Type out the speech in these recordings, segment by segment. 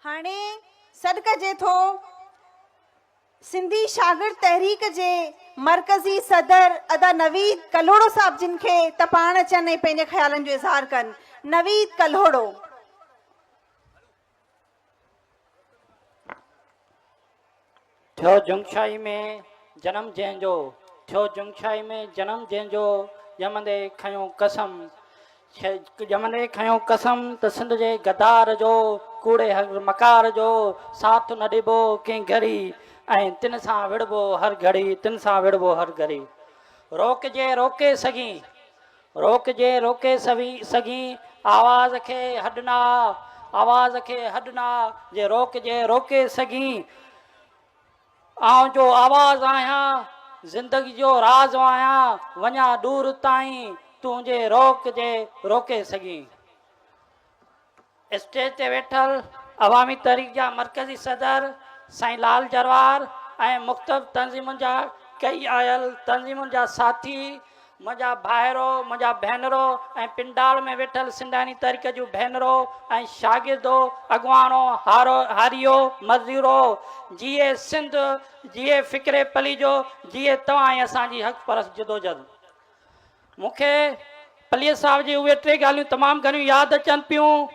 هاڻي سڏ ڪجي ٿو سنڌي شاگرد تحريڪ جي مرڪزي صدر ادا نويد ڪلهوڙو صاحب جن کي ته پاڻ اچن ۽ پنهنجي خيالن جو اظهار ڪن نويد ڪلهوڙو ٿيو جنگشاهي ۾ جنم جنهن جو. ٿيو جنگشاهي ۾ جنم جنهن جو، ڄمندي کنيو قسم، ڄمندي کنيو قسم ته سنڌ جي غدار جو، ڪوڙي هر مڪار جو، ساٿ نه ڏبو ڪنهن گهڙي، ۽ تن سان وڙهبو هر گهڙي، تن سان وڙهبو هر گهڙي. روڪجي روڪي سگهين، روڪجي روڪي سوي سگهين آواز کي هڏنا آواز کي هڏنا جي روڪجي روڪي سگهين آئون جو آواز آهيان زندگي جو راز آهيان وڃان ڏور تائين تون جي روڪجي روڪي سگهين اسٽيج تي ويٺل عوامي تحريڪ جا مرڪزي صدر سائين لال جروار ۽ مختلف تنظيمن جا ڪئي آيل تنظيمن جا ساٿي منهنجا ڀائرو منهنجا ڀينرو ۽ پنڊال ۾ ويٺل سنڌاڻي تحريڪ جون ڀينرو ۽ شاگردو اڳواڻو هارو هاريو مزدورو جيئي سنڌ جيئي فڪري پليجو جيئي توهان ۽ اسان جي حق پرست جدوجھد مون کي پليجي صاحب جي اهي ٽي ڳالهيون تمام گهڻيون ياد اچن پيون.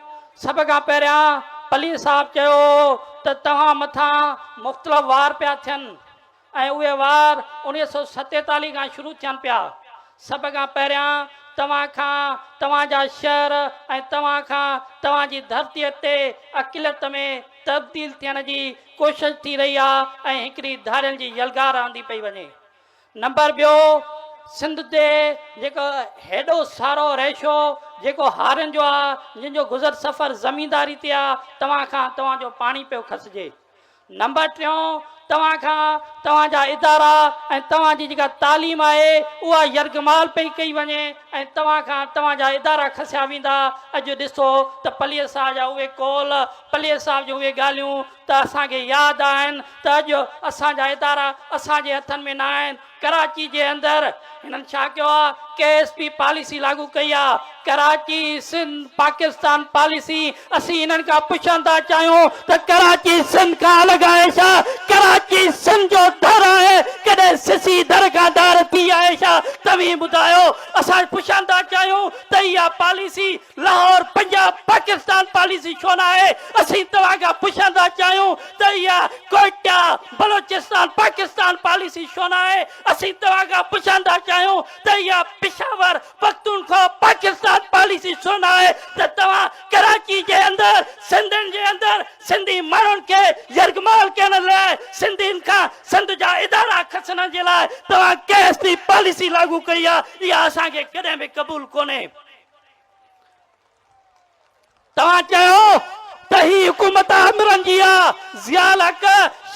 سڀ کان پهريان پليجي صاحب چيو ته توهان مٿان مختلف وار پيا ٿين ۽ اهي وار اڻيهه سؤ ستيتاليهه کان شروع ٿين پيا. سڀ کان پهريان توهان کان توهان جا شهر ۽ توهان کان توهان جي ڌرتيء تي اقليت ۾ تبديل ٿيڻ جي ڪوشش ٿي رهي آهي ۽ هڪڙي ڌاڙيل جي يلغار آندي پئي وڃي. نمبر ٻيو سنڌ تي جيڪو هيڏو سارو ريشو جيڪو هارين جو آ جن جو گذر سفر زمينداري تي آ توهان کان توهان جو پاڻي پيو کسجي نمبر ٽيون توهان کان توهان جا ادارا ۽ توهان جي جيڪا تعليم آهي اها يرغمال پئي ڪئي وڃي ۽ توهان کان توهان جا ادارا کسيا ويندا اڄ ڏسو ته پلير صاحب جا اهي قول پلير صاحب جون اهي ڳالهيون ته اسان کي ياد آهن ته اڄ اسان جا ادارا اسان جي هٿن ۾ نه آهن، ڪراچي جي اندر هنن ڇا ڪيو آهي، ڪي ايس پي پاليسي لاڳو ڪئي آهي، ڪراچي سنڌ پاڪستان پاليسي، اسين هنن کان پڇڻ ٿا چاهيون ته ڪراچي سنڌ کان الڳ آهي ڇا، ڪراچي سنڌ جو در آهي، ڪڏهن سسي در کان ڌار ٿي آهي ڇا، توهين ٻڌايو، اسان پڇڻ ٿا چاهيون ته اها پاليسي لاهور پنجاب پاڪستان پاليسي ڇو نه آهي، اسين توهان کان پڇڻ ٿا چاهيون ته اها ڪوئٽا بلوچستان پاڪستان پاليسي ڇو نه آهي؟ اسين توهان کان پڇڻ ٿا چاهيون ته اها پشاور پختونخوا پاڪستان پاليسي ڇو نه آهي ته توهان ڪراچي جي اندر سنڌين جي اندر سنڌي ماڻهن کي يرغمال ڪرڻ لاء سنڌين کان سنڌ جا ادارا کسنڻ جي لاء توهان ڪيس ٿي پاليسي لاڳو ڪئي آهي اها اسان کي ڪڏهن به قبول ڪونهي. توهان چيو ته هي حڪومت آمرن جي آ، ضياء الحق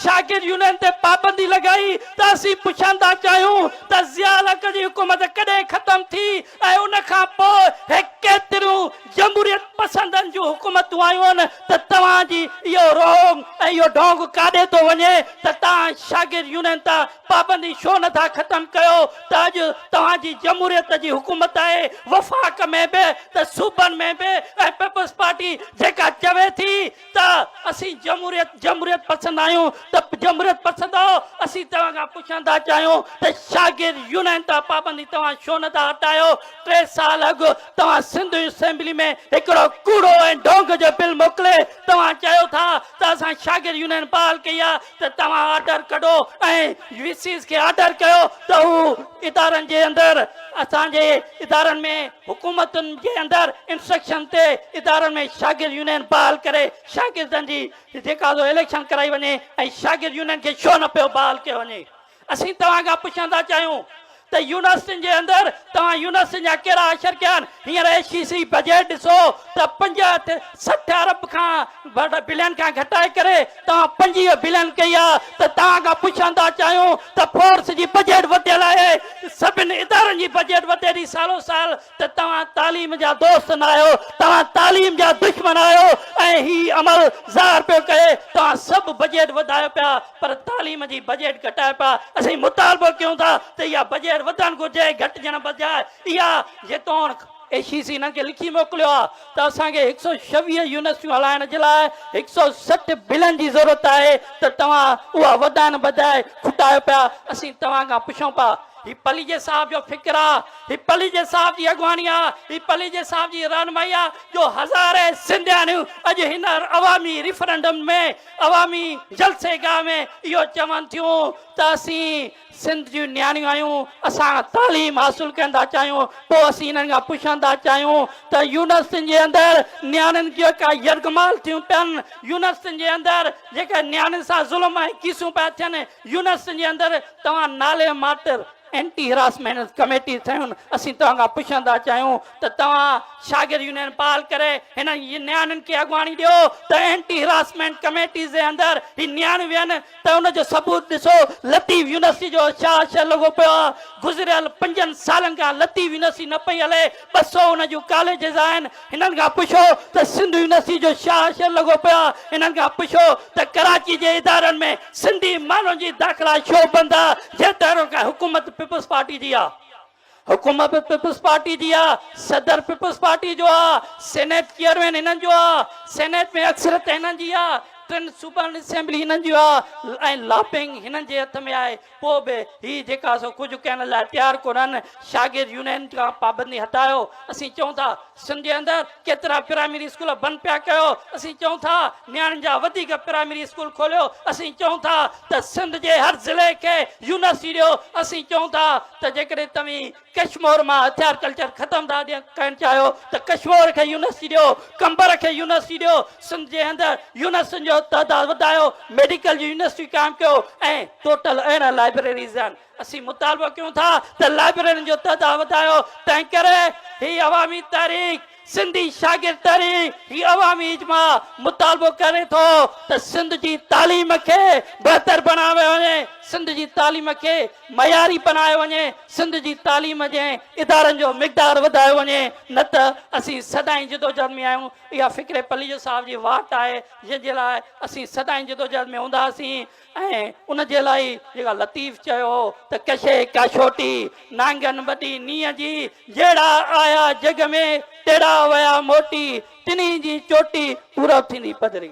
شاگرد يونين تي پابندي لڳائي ته اسين پڇڻ ٿا چاهيون ته ضياء الحق جي حڪومت ڪڏهن ختم ٿي ۽ ان کان پوء هي ڪيتريون جمهوريت پسندن جون حڪومتون آيون ته توهان جي اهو رونگ ۽ اهو ڍونگ ڪاڏي ٿو وڃي ته توهان شاگرد يونين تان پابندي ڇو نه ٿا ختم ڪيو ته اڄ توهان جي جمهوريت جي حڪومت آهي وفاق ۾ به ته صوبن ۾ به ۽ پيپلز پارٽي جيڪا چوي ٿي ته اسين جمهوريت جمهوريت پسند آهيون ته جمهوريت پسند آهو اسين توهان کان پڇڻ ٿا چاهيون ته شاگرد يونين تان پابندي توهان ڇو نه ٿا هٽايو ٽي سال اڳ توهان سنڌ اسيمبلي ۾ هڪڙو ڪوڙو ۽ ڍونگ جو بل موڪلي توهان چيو ٿا ته اسان شاگرد يونين بحال ڪئي آهي ته توهان آرڊر ڪڍو ۽ وي سيز کي آرڊر ڪيو ته هو ادارن جي اندر اسان جي ادارن ۾ حڪومتن جي اندر انسٽرڪشن تي ادارن ۾ شاگرد يونين بحال ڪري شاگردن جي جيڪا سو اليڪشن ڪرائي وڃي ۽ شاگرد يونين کي شو نه پيو بحال ڪيو وڃي اسين توهان کان پڇڻ ٿا چاهيون ته يونيورسٽين جي اندر توهان يونيورسٽين جا ڪهڙا اشر ڪيا آهن؟ هينئر اي سي سي بجيٽ ڏسو ته پنجهٺ سٺ ارب کان بلين کان گهٽائي ڪري توهان پنجويهه بلين ڪئي آهي ته توهان کان پڇڻ ٿا چاهيون ته فورس جي بجيٽ وڌيل آهي سڀن ادارن جي بجيٽ وڌي ٿي سالو سال ته توهان تعليم جا دوست نه آهيو، توهان تعليم جا دشمن آهيو ۽ هي عمل ظاهر پيو ڪري توهان سڀ بجيٽ وڌايو پيا پر تعليم جي بجيٽ گهٽايو پيا، اسين مطالبو ڪيون ٿا ته اها بجيٽ وڌڻ گهرجي گهٽجڻ بجاء اها جيتوڻڪ. اي سي سي هنن کي لکي موڪليو آهي ته اسان کي هڪ سؤ ڇويهه يونيورسٽيون هلائڻ جي لاء هڪ سؤ سٺ بلن جي ضرورت آهي ته توهان اها وڌائڻ بجاء کٽايو پيا، اسين توهان کان پڇون پيا هي پليجي صاحب جو فڪر آهي؟ هي پليجي صاحب جي اڳواڻي آ، هي پليجي صاحب جي رهنمائي آ جو هزارين سنڌياڻيون اڄ هن عوامي ريفرنڊم ۾ عوامي جلسي گاهه ۾ اهو چون ٿيون ته اسين سنڌ جون نياڻيون آهيون، اسان تعليم حاصل ڪرڻ ٿا چاهيون، پوء اسين هنن کان پڇڻ ٿا چاهيون ته يونيورسٽين جي اندر نياڻين جيڪا يرغمال ٿيون پين، يونيورسٽين جي اندر جيڪا نياڻين سان ظلم ۽ ڪيسون پيا ٿين، يونيورسٽين جي اندر توهان نالي ماٽر، اينٽي هراسمينٽ ڪميٽي ٺهيون اسين توهان کان پڇڻ ٿا چاهيون ته توهان شاگرد يونين بحال ڪري هنن نياڻين کي اڳواڻي ڏيو ته اينٽي هراسمينٽ ڪميٽيز جي اندر هي نياڻيون ويهن ته ان جو ثبوت ڏسو لطيف يونيورسٽي جو شاهه شاهه لڳو پيو آهي گذريل پنجن سالن کان لطيف يونيورسٽي نه پئي هلي ٻه سؤ ان جون ڪاليجز آهن، هنن کان پڇو ته سنڌ يونيورسٽي جو ڇا حشر لڳو پيو آهي، هنن کان پڇو ته ڪراچي جي ادارن ۾ سنڌي ماڻهن جي داخلا ڇو بند آهي، جيتوڻيڪ حڪومت پيپلز پارٽي جي آهي. حڪومت به پيپلز پارٽي جي آهي، صدر پيپلز پارٽي جو آهي، سينيٽ چيئرمين هنن جو آهي، سينيٽ ۾ اڪثريت هنن جي آهي، ٽن صوبن اسيمبلي هنن جي آهي ۽ لاپنگ هنن جي هٿ ۾ آهي، پوء به هي جيڪا سو ڪجهه ڪهڻ لاء تيار ڪونهن، شاگرد يونين کان پابندي هٽايو، اسين چئون ٿا سنڌ جي اندر ڪيترا پرائمري اسڪول بند پيا ڪيو، اسين چئون ٿا نياڻين جا وڌيڪ پرائمري اسڪول کوليو، اسين چئون ٿا ته سنڌ جي هر ضلعي کي يونيورسٽي ڏيو، اسين چئون ٿا ته جيڪڏهن توهين ڪشمور مان هٿيار ڪلچر ختم ٿا ڪن چاهيو ته ڪشمور کي يونيورسٽي ڏيو قمبر کي يونيورسٽي ڏيو سنڌ جي اندر يونيورسٽين جو تعداد وڌايو ميڊيڪل جي يونيورسٽي قائم ڪيو ۽ ٽوٽل اهڙن لائبريريز آهن اسين مطالبو ڪيون ٿا ته لائبريرين جو تعداد وڌايو تنهن ڪري هي عوامي تحريڪ سنڌي شاگرد تحريڪ هي عوامي اجماع مطالبو ڪري ٿو ته سنڌ جي تعليم کي بهتر بڻايو وڃي، سنڌ جي تعليم کي معياري بنايو وڃي، سنڌ جي تعليم جي ادارن جو مقدار وڌايو وڃي نه ته اسين سدائين جدوجهد ۾ آهيون، اها فڪري پليجو صاحب جي واٽ آهي جنهن جي لاء اسين سدائين جدوجهد ۾ هونداسين. ۽ ان جي لاء جيڪا لطيف چيو هو ته ڪشي ڪاشوٽي نانگن وڏي نينهن جي جهڙا آيا جڳ ۾ تهڙا ويا موٽي ٽنهي جي چوٽي پورب ٿيندي پڌري.